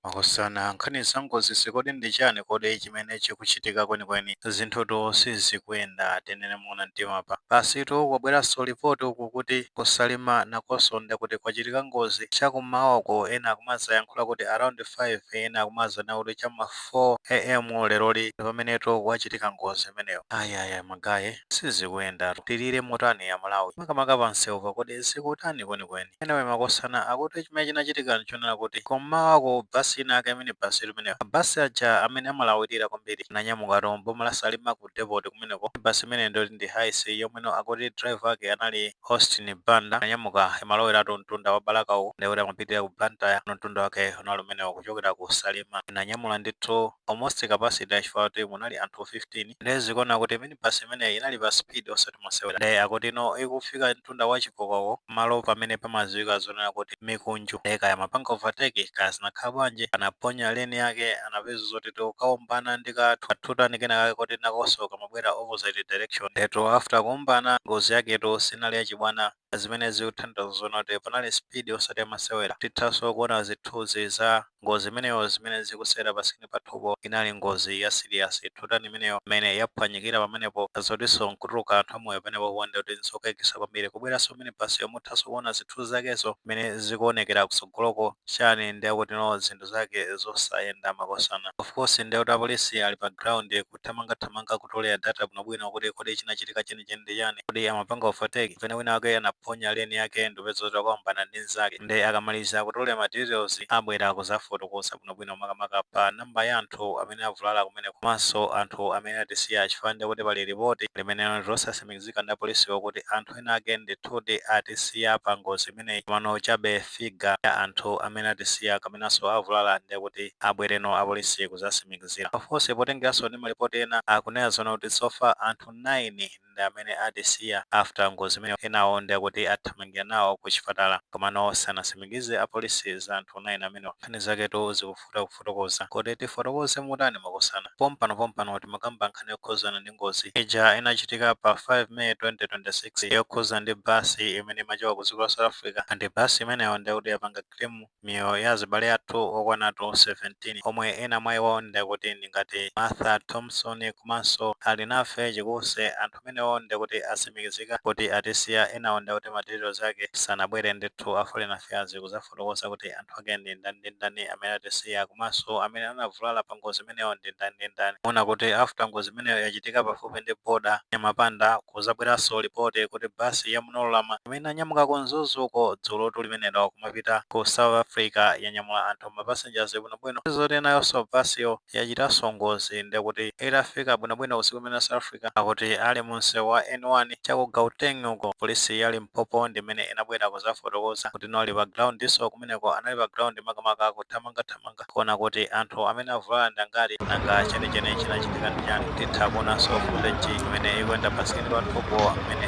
Makosana, nkhani za ngozizi kodi ndi chani kodi chimene chikuchitika kwenikweni? Zinthutu sizikuyenda tinene moona mtima apa. Basitu kwabweranso lipoti uku kuti ku Salima nakonso nde kuti kwachitika ngozi cha kummawa uko ena akumadzayankhula kuti around 5 ena akumadzanena kuti cha m'ma 4 am leroli pamenetu kwachitika ngozi imeneyo. Ayayayayi magaye. sizikuyenda tilire motani amalawi makamaka panseupa kodi zikutani kwenikweni anyway makosana akuti chimene chinachitika nchonena kuti kum'mawako bus inayake minibus imeneyo ma bus aja amene amalawilira kwambiri ananyamukatu m'boma la salima ku depoti kumeneko minibus imeneyi ndiyoti ndi Hiace yomweno akuti driver wake anali austin banda ananyamuka amalowelatu mtunda wa balaka uku ndekuti amapitilira ku blantyre kuno mtunda wake unali umenewo kuchokera ku salima inanyamula ndithu almost capacity yake chifukwa kuti munali anthu 15 Nde zikuoneka kuti minibus imeneyi inali pa speed osati mosewera nde akuti ino ikufika mtunda wa chikokoko pamalo pamene pamaziwika zonena kuti mikunju nde kaya amapanga overtake kaya zinakhala bwanji anaphonya lane yake anapeza zoti akukaombana ndi ka two tonne kenakake koti nakonso kamabwera opposite direction ndetu after kuombana ngozi yaketu sinali yachibwana zimene zikuthandauza zonena kuti panali speed osati yamasewera tithanso kuona zithuzi za ngozi imeneyo zimene zikusewera pa screen pathupo inali ngozi ya serious two tonne imeneyo mmene yaphwanyikira pamenepo zotinso nkutuluka anthu amoyo penapo ndekuti nzokayikisa kwambiri kubweranso minibus yo muthanso kuona zithuzi zakezo mmene zikuonekera kusogoloko chani ndekuti no zinthu zake zosayenda makosana ofcourse ndekuti apolisi ali pa ground ku kuthamangathamanga kutolera data bwinobwino kuti kodi chinachitika chenicheni ndi chani, kodi amapanga overtake kapena wina wake anaphonya lane yake ndikupeza zoti waombana ndi mzake nde akamaliza kutolera ma details abwera kuzafotokoza bwinobwino makamaka pa number ya anthu amene avulala kumeneko komanso anthu amene atisiya chifukwa ndekuti pali report limene ndi losatsimikizika ndi apolisiwo kuti anthu enaake ndithudi atisiya pa ngozi imeneyi komano chabe figure ya anthu amene atisiya kapenanso avulala ndiye kuti abwereno apolisi kuzasimikizira. Of course potengeranso ndi malipoti ena akunena zonena kuti so far anthu 9 ndi amene atisiya after ngozi imeneyo enawo ndiye kuti athamangira nawo ku chipatala komano sanasimikize apolisi za anthu 9 amenewa. Nkhani zaketu zikufuna. kovuta kufotokoza kodi tifotokoze motani makosana pompano pompano timakamba nkhani yokhuzana ndi ngozi ija inachitika pa 5 may 2026 yokhuza ndi bus imene imachoka ku dziko la south africa and bus imeneyo ndekuti yapanga claim miyoyo ya azibale athu okwanatu 17 omwe ena mwa iwo ndekuti ndingati martha thomson komanso alinafe chikunse anthu amenewo nde kuti atsimikizika kuti atisiya enawo nde kuti ma details ake sanabwere ndithu a foreign affairs kuzafotokoza kuti anthu ake ndi ndani ndi ndani amene atisiya komanso amene anavulala pa ngozi imeneyo ndi ndani ndi ndani muona kuti after ngozi imeneyo yachitika pafupi ndi border ya Nyamapanda kuzabweranso report kuti bus ya Munorurama imene inanyamuka ku mzuzu uko dzulotu limenelo kumapita ku south africa yanyamula anthu ma passengers bwinobwino zoti enayonso bus yo yachitanso ngozi nde kuti itafika bwinobwino usiku umene south africa Zikudziwika kuti ali mu msewu wa N1 cha ku Gauteng uko, polisi ya Limpopo ndi imene inabwera kudzafotokoza kuti inali pa ground-so kumeneko anali pa ground makamaka akuthamangathamanga kuona kuti anthu amene avulala ndi angati nanga chenicheni chinachitika ndi chani. Titha kuonanso footage imene ikuyenda pa screen pathupo mmene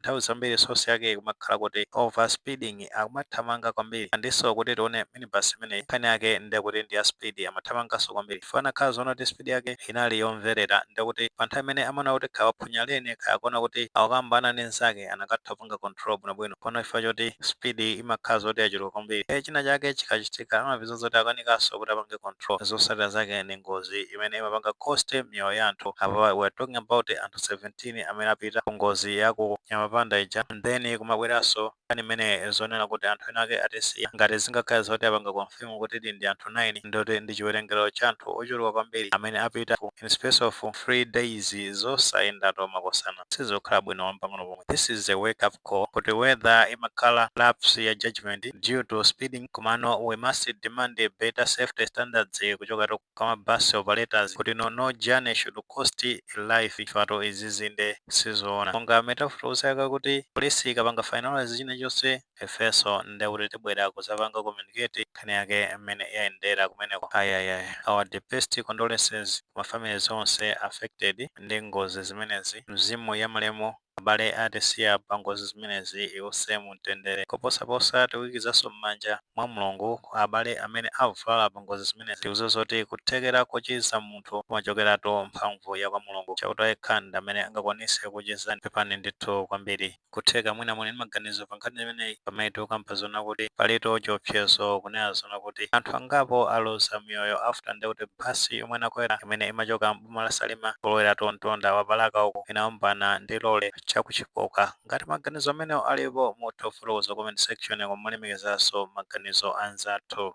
Nthawi zambiri source yake ikumakhala kuti over speeding akumathamanga kwambiri andinso kuti tione minibus imeneyi nkhani yake ndekuti ndi ya speed amathamanganso kwambiri chifukwa kanakhala zoona kuti speed yake inali yomverera ndekuti pa nthawi imene amaona kuti kaya waphonya lane kaya akuona kuti akukaombana ndi nzake akanatha kupanga control bwinobwino koma chifukwa choti speed imakhala zoti yachuluka kwambiri ndiye china chake chikachitika amapeza zoti akanikanso kuti apange control zosatira zake ndi ngozi imene imapanga cost miyoyo ya anthu apa we're talking about anthu 17 18 amene apita ku ngozi ya ku Nyamapanda ija and then kumabweranso nkhani imene yonena kuti anthu ena ake atisiya, ngati zingakhale zoti apanga confirm kutidi ndi anthu 9 ndekuti ndi chiwerengero cha anthu ochuluka kwambiri amene apita ku in space of 3 days zosayendatu makosana sizikukhala bwino mpang'ono pomwe this is a wake up call kuti whether imakhala lapse ya judgement due to speeding komano we must demand better safety standards kuchokera kwa ma bus operators kuti no journey should cost a life chifukwa izizi nde sizoona monga m'mene tafotokozera kale kuti police ikapanga finalise chinachonse ifenso nde kuti tibwera kuzapanga communicate nkhani yake m'mene yayendera kumeneko ayayaya our deepest condolences ku ma families onse affected ndi ngozi zimenezi mzimu ya malemu Abale atisiya pa ngozi zimenezi iwuse mu mtendere. Koposaposa tikuikizanso mmanja mwa Mulungu kwa abale amene avulala pa ngozi zimenezi. Tikuziwa zoti kuthekera kochiza munthu kumachokeratu mphamvu ya kwa Mulungu. Chauta yekha ndamene angakwanise kukuchizani. Pepani ndithu kwambiri. Nkutheka mwina muli ndi maganizo pa nkhani imeneyi pamene tikukamba zoona kuti palitu chiopsezo kunena zoona kuti anthu angapo aluza miyoyo after ndekuti bus yomwe anakwera imene imachoka m'boma la Salima polowera to mtunda wa ku Balaka uku inaombana ndi lole cha ku Chipoka. Ngati maganizo amenewo alipo mutha kufotokoza comment section koma molemekezanso maganizo anzathu.